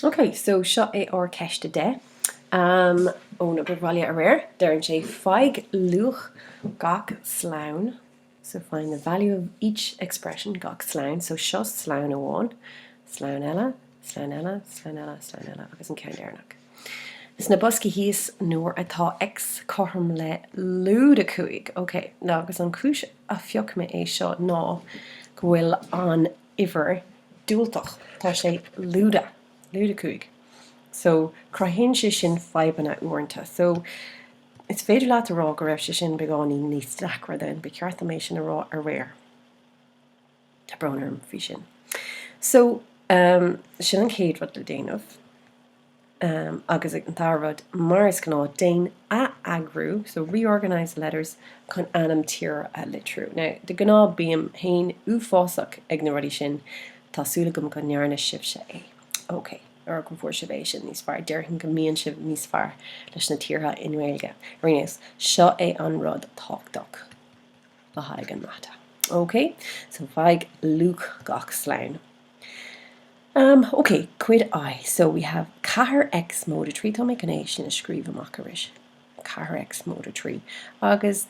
Ok, so seo é ár Ceist 10. Ón obair bhaile aréir. Deireann sé, Faigh luach gach slonn, So find the value of each expression, gach slonn, so seo slonn amháin, slonn eile, slonn eile, slonn eile, slonn eile agus an ceann deireanach. Sna boscaí thíos, nuair atá X cothrom le lúide 5, Ok, now agus an chúis a phioc mé é seo ná go bhfuil an. uimhir diúltach, tá sé lúide, lúide 5 so cruthaíonn sé sin fadhbanna uaireanta. So, is féidir leat a rá go raibh sé sin beagáinín níos deacra then, ba cheart dom é sin a rá aréir. Tá brón orm faoi sin. So, sin an chéad rud le déanamh. Agus an dara rud, mar is gnáth, déan atheagrú, so reorganise the letters, chun ainm tíre a litriú. Now, de ghnáth bím féin uafásach ag na rudaí sin, tá súil agam go ndearna sibhse é. Ok, or go bhfuair sibh é sin níos fearr, déarfainn go mbíonn sibh níos fearr leis na tíortha i nGaeilge. Ar aon nós, seo é an rud tábhachtach le haghaidh an mata. Ok? So faigh luach gach slonn. Um, ok, cuid I, so we have ceathair X móide trí, tá mé chun é sin a scríobh amach arís, ceathair X móide trí, agus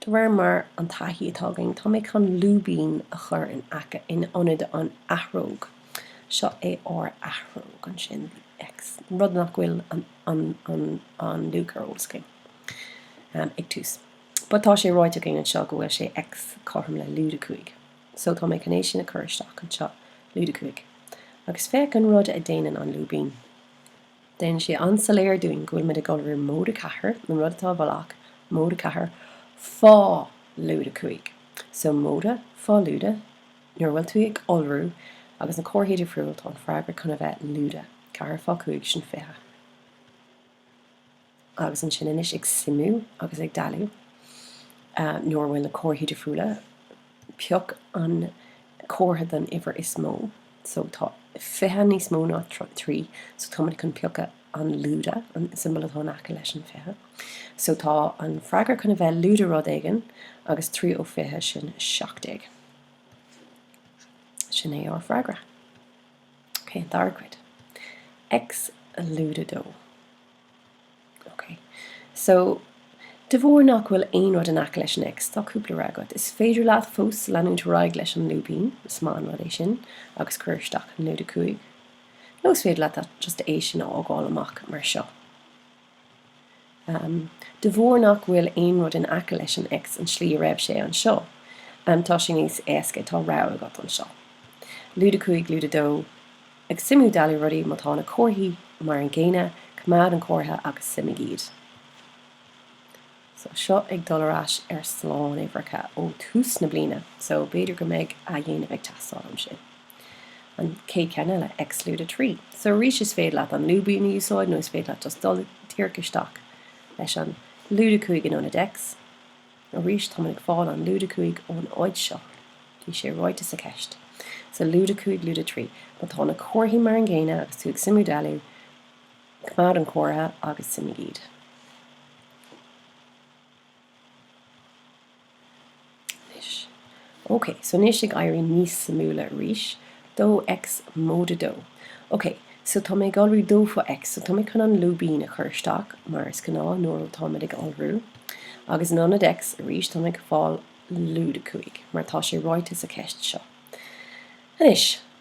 de réir mar an taithí atá againn, tá mé chun lúibín a chur in aice, in ionad an athróg. Seo é ár athróg ansin, the X, rud nach bhfuil an, an, an, an luach ar eolas againn, um, ag tús. But tá sé ráite againn anseo go bhfuil sé X cothrom le lúide cúig. So tá mé chun é sin a chur isteach anseo, lúide 5. Agus féach an rud a dhéanann an lúibín. Déanann sé an-soiléir dúinn go bhfuil muid ag iolrú móide 4, an rud atá i bhfolach, móide 4, fá, lúide 5. So móide, fá lúide, nuair a bhfuil tú ag iolrú agus na comharthaí difriúil tá an freagra chun a bheith lúide, 4 fá 5 sin 20. agus ansin anois ag suimiú agus ag dealú nuair a bhfuil na comharthaí difriúla, pioc an comhartha den uimhir is mó, so tá fiche níos mó ná trí, so tá muid chun piocadh an lúide, an siombail atá in aice leis an fiche. So tá an freagra chun a bheith lúide rud éigin agus trí ó fiche sin seacht déag. Sin é ár freagra. Ok, an dara cuid. X lúide dó. Ok. So, de bharr nach bhfuil aon rud in aice leis an X, tá cúpla rogha agat. Is féidir leat fós leanúint ar aghaidh leis an lúibín, is maith an rud é sin, agus cuir isteach an lúide 5. Nó is féidir leat just é sin a fhágáil amach mar seo. de bharr nach bhfuil aon rud in aice leis an X an slí a raibh sé anseo, tá sé níos éasca, tá rogha agat anseo. Lúide 5, lúide 2, Ag suimiú dealú rudaí, má tá na comharthaí mar an gcéanna, coimeád an comhartha agus suimigh iad. So, seo ag dul ar ais ar slánuimhreacha ó thús na bliana, so b'fhéidir go mbeidh athdhéanamh ag teastáil ansin. An chéad cheann eile, X lúide 3. So, arís is féidir leat an lúibín a úsáid nó is féidir leat just dul díreach isteach leis an lúide 5 in ionad X. Arís, táimid ag fáil an lúide 5 ón áit seo, bhí sé ráite sa cheist. So, lúide 5, lúide 3. Má tá na comharthaí mar an gcéanna agus tú ag suimiú dealú, Coimeád an comhartha agus suimigh iad. Ok, so anois ag éirí níos suimiúla arís. Dó X móide dó. Ok, so tá mé ag iolrú dó fá X, so tá mé chun an lúibín a chur isteach mar is gnáth nuair a táimid ag iolrú. Agus in ionad X arís, tá mé ag fáil lúide 5, mar tá sé ráite sa cheist seo. Anois.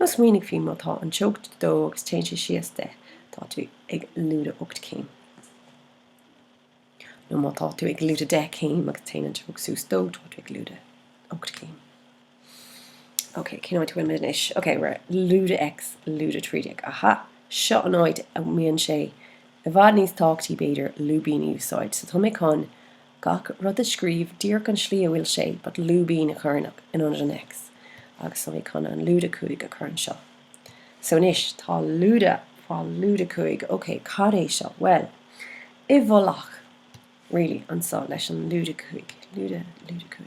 Nó smaoinigh faoi má tá an teocht dó agus téann sé síos deich, tá tú ag lúide ocht céim. Nó má tá tú ag lúide deich céim agus téann an teocht suas dó, tá tú ag lúide ocht céim. Ok, cén áit a bhfuilimid anois? Ok, we're lúide X, lúide trí déag. Aha, seo an áit a mbíonn sé i bhfad níos tábhachtaí b'fhéidir lúibíní a úsáid. So tá mé chun. Gach rud a scríobh díreach an slí a bhfuil sé but lúibín a chur isteach in ionad an X agus tá mé chun an lúide 5 a chur anseo. So anois tá lúide fá lúide 5 ok cad é seo bhuel i bhfolach really anseo leis an lúide 5 lúide lúide 5.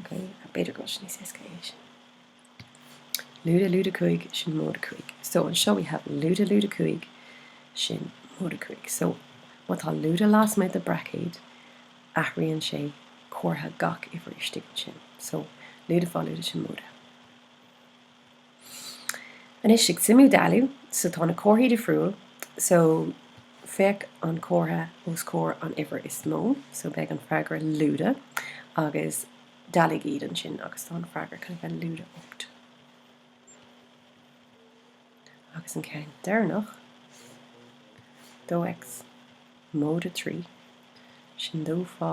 Ok b'fhéidir go bhfuil sé níos éasca leis sin. Lúide lúide cúig sin móide cúig. So anseo we have lúide lúide cúig sin móide cúig. So má tá lúide lasmuigh de braicéad athraíonn sé comhartha gach uimhir istigh ansin. So lúide fá lúide sin móide. Anois ag suimiú dealú so tá na comharthaí difriúil so féach an comhartha os comhair an uimhir is mó so beidh an freagra lúide agus dealaigh iad ansin agus tá an freagra chun a bheith lúide ocht agus an ceann deireanach dó x móide trí sin dó fá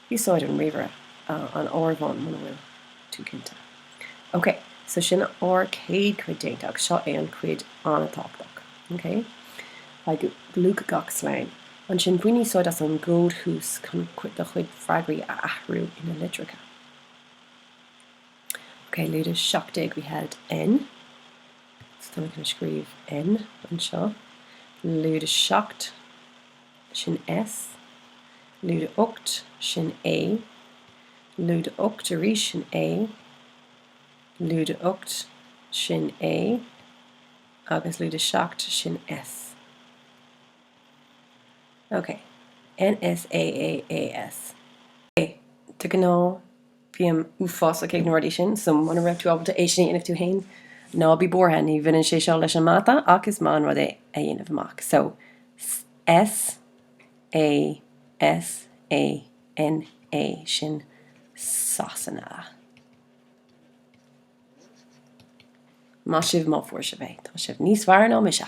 Úsáid an ríomhaire, an áireamhán muna bhfuil tú cinnte. Ok, so sin ár céad cuid déanta agus seo é an cuid an-tábhachtach. Ok? Faigh luach gach slonn. Ansin bain úsáid as an gcód thuas chun do chuid freagraí a athrú ina litreacha. Ok, lúide 17 we had N. So táim ag scríobh N anseo. Lúide 17. sin S. lúide ocht sin A. lúide ocht arís sin A. lúide ocht sin A. agus lúide seacht sin S. Ok. NS AAAS. De ghnáth Bím uafásach ag na rudaí sin, so muna raibh tú ábalta é sin a dhéanamh tú fhéin, ná bí buartha, ní bhaineann sé seo leis an mata ach is maith an rud é a dhéanamh amach. So S, A, S, A, N, A, sin Sasana. Maith sibh má fuair sibh é, tá sibh níos fearr ná mise!